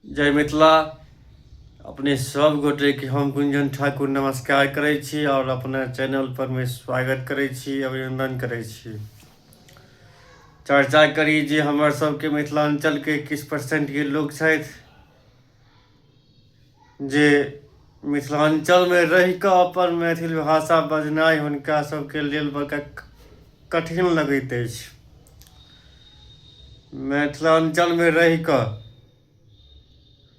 जय मिथिला अपने सब गोटे के हम गुंजन ठाकुर नमस्कार करे छी और अपना चैनल पर में स्वागत करे छी अभिनंदन करे छी चर्चा करी जे हमर सबके मिथिलांचल के किस परसेंट के लोग छथि जे मिथिलाञ्चलमे रहि कऽ अपन मैथिल भाषा बजनाइ हुनका सभके लेल बड़का कठिन लगैत अछि मिथिलाञ्चलमे रहि कऽ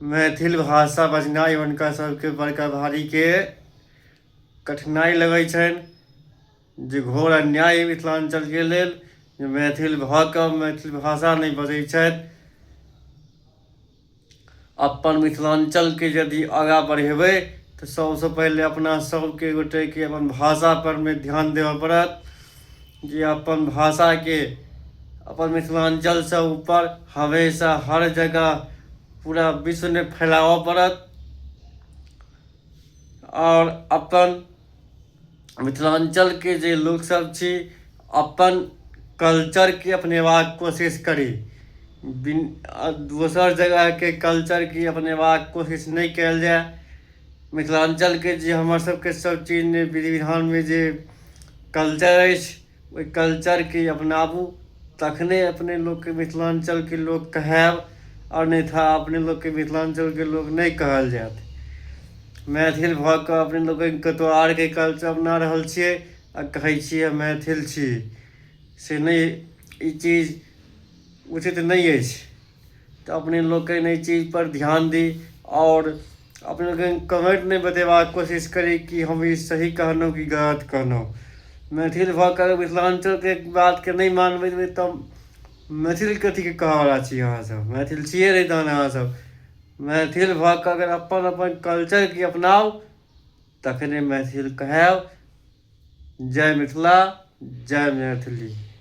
मैथिल भाषा बजनाइ हुनका सभके बड़का भारीके कठिनाइ लगैत छनि जे घोर अन्याय मिथिलाञ्चलके लेल जे मैथिल भऽ कऽ मैथिल भाषा नहि बजैत छथि अपन मिथिलाञ्चलके यदि आगाँ बढ़ेबै तऽ सभसँ पहिले अपना सभके गोटेके अपन भाषापर मे ध्यान देबऽ पड़त जे अपन भाषाके अपन मिथिलाञ्चलसँ ऊपर हमेशा हर जगह पूरा विश्वमे फैलाबऽ पड़त आओर अपन मिथिलाञ्चलके जे लोकसभ छी अपन कल्चरके अपनेबाक कोशिश करी बिन दोसर जगहके कल्चरके अपनेबाक कोशिश नहि कयल जाय मिथिलाञ्चलके जे हमरसभके सभचीज विधि विधानमे जे कल्चर अछि ओहि कल्चरके अपनाबू तखने अपने लोकके मिथिलाञ्चलके लोक कहायब आओर नहि था अपने लोकके मिथिलाञ्चलके लोक नहि कहल जायत मैथिल भऽ कऽ अपने लोक कतहु आरके कल्चर अपना रहल छियै आ कहै छियै मैथिल छी से नहि ई चीज उचित नहि अछि तऽ अपने लोकनि एहि चीजपर ध्यान दी आओर अपने लोकनि कमेंट नहि बतेबाक कोशिश करी कि हम ई सही कहलहुँ कि गलत कहलहुँ मैथिल भऽ कऽ मिथिलाञ्चलके बातके नहि मानबै तऽ तब मैथिल कथीके कहयवला छी अहाँसभ मैथिल छियै नहि तहन अहाँसभ मैथिल भऽ कऽ अगर अपन अपन कल्चरकेँ अपनाउ तखने मैथिल कहायब जय मिथिला जय मैथिली